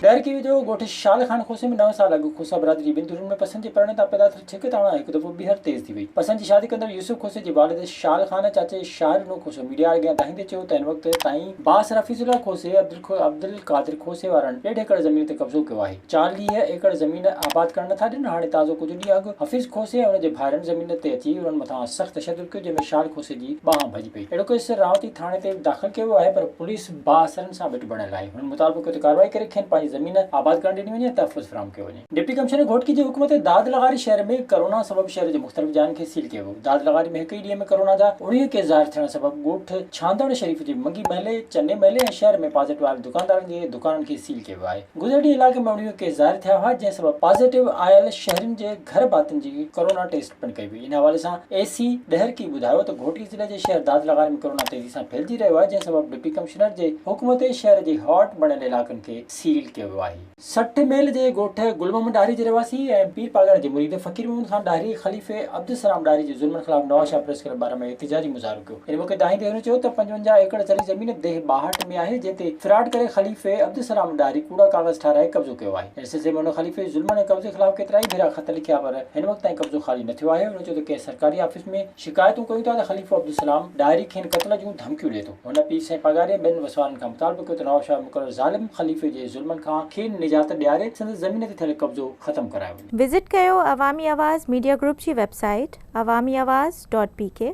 ڏاهر ڪيوي جو ڳوٺ شال خان کوسي ۾ نو سال اڳ کوسا برادري ٻن ڌرين ۾ پسند جي پرڻي تان پيدا ٿيل ڇڪ تاڻا هڪ دفعو ٻيهر تيز ٿي وئي. پسند جي شادي ڪندڙ يوسف کوسي جي والد شال خان چاچي شاهر نو کوسو ميڊيا اڳيان دانهيندي چيو ته هن وقت تائين بااثر حفيظ الله کوسي عبدالقادر کوسي وارن ڏيڍ ايڪڙ زمين تي قبضو ڪيو آهي. چاليهه ايڪڙ زمين آباد ڪرڻ نٿا ڏين. هاڻي تازو ڪجهه ڏينهن اڳ حفيظ کوسي ۽ ان جي ڀائرن زمين تي اچي انهن مٿان سخت تشدد ڪيو جنهن ۾ شال کوسي جي ٻانهن ڀڄي پئي. اهڙو ڪيس راهوتي ٿاڻي تي به داخل ڪيو ويو آهي پر پوليس بااثرن سان ويٺ بڻيل آهي، هنن مطالبو ڪيو ته ڪارروائي ڪري کين پنهنجي زمين آباد ڪرڻ ڏني وڃي ۽ تحفظ فراهم ڪيو وڃي. ڊپٽي ڪمشنر گهوٽڪي جي حڪم تي داد لغاري شهر ۾ ڪرونا سبب شهر جي مختلف جاين کي سيل ڪيو ويو، داد لغاري ۾ هڪ ئي ڏينهن ۾ ڪرونا جا اوڻيهه ڪيس ظاهر ٿيڻ سبب ڳوٺ ڇانڌڻ شريف جي منگي محلي، چني محلي ۽ شهر ۾ پازيٽو آيل دڪاندارن جي دڪانن کي سيل ڪيو ويو آهي، گذريل ڏينهن علائقي ۾ اوڻيهه ڪيس ظاهر ٿيا هئا جنهن سبب پازيٽو آيل شهرين جي. گهر ڀاتين جي ڪورونا ٽيسٽ پڻ ڪئي وئي، ان حوالي سان اي سي ڏهرڪي ٻڌايو ته گهوٽي ضلعي جي شهر داد لغاري ۾ ڪورونا تيزي سان ڦهلجي رهيو آهي، جنهن سبب ڊپٽي ڪمشنر جي حڪم تي شهر جي هاٽ بڻيل علائقن کي سيل ڪيو ويو آهي. سٺ ميل جي ڳوٺ گل محمد ڏاهري جي رهواسي ۽ پير پالڻ جي مريد فقير محمد خان ڏاهري خليفي عبدالسلام ڏاهري جي ظلمن خلاف نواز شاهه پريس ڪلب ٻارهن ۾ احتجاجي مظاهرو ڪيو، ان موقعي دانهين ڏيهرو چيو ته پنجونجاهه ايڪڙ زرعي زمين ديهه ٻاهٺ ۾ آهي جنهن تي فراڊ ڪري خليفي عبدالسلام ڏاهري ڪوڙا ڪاغذ ٺاهرائي قبضو ڪيو آهي، ان سلسلي ۾ هن خليفي ظلمن ۽ قبضي خلاف ڪيترائي ڀيرا خط لکيا پر هن وقت تائين قبضو خالي نه ٿيو آهي هن چيو ته ڪنهن سرڪاري آفيس ۾ شڪايتون ڪيون ٿا ته خليفو عبدالسلام ڏاهري کين قتل جون ڌمڪيون ڏئي ٿو هن پير سائين پاڳاري ۽ ٻين وسوارن کان مطالبو ڪيو ته نوابشاهه مقرر ظالم خليفي جي ظلمن کان کين نجات ڏياري سندس زمين تي ٿيل قبضو ختم ڪرايو وڃي. وزٽ ڪيو عوامي آواز ميڊيا گروپ جي website Awami Awaz dot P ڪي.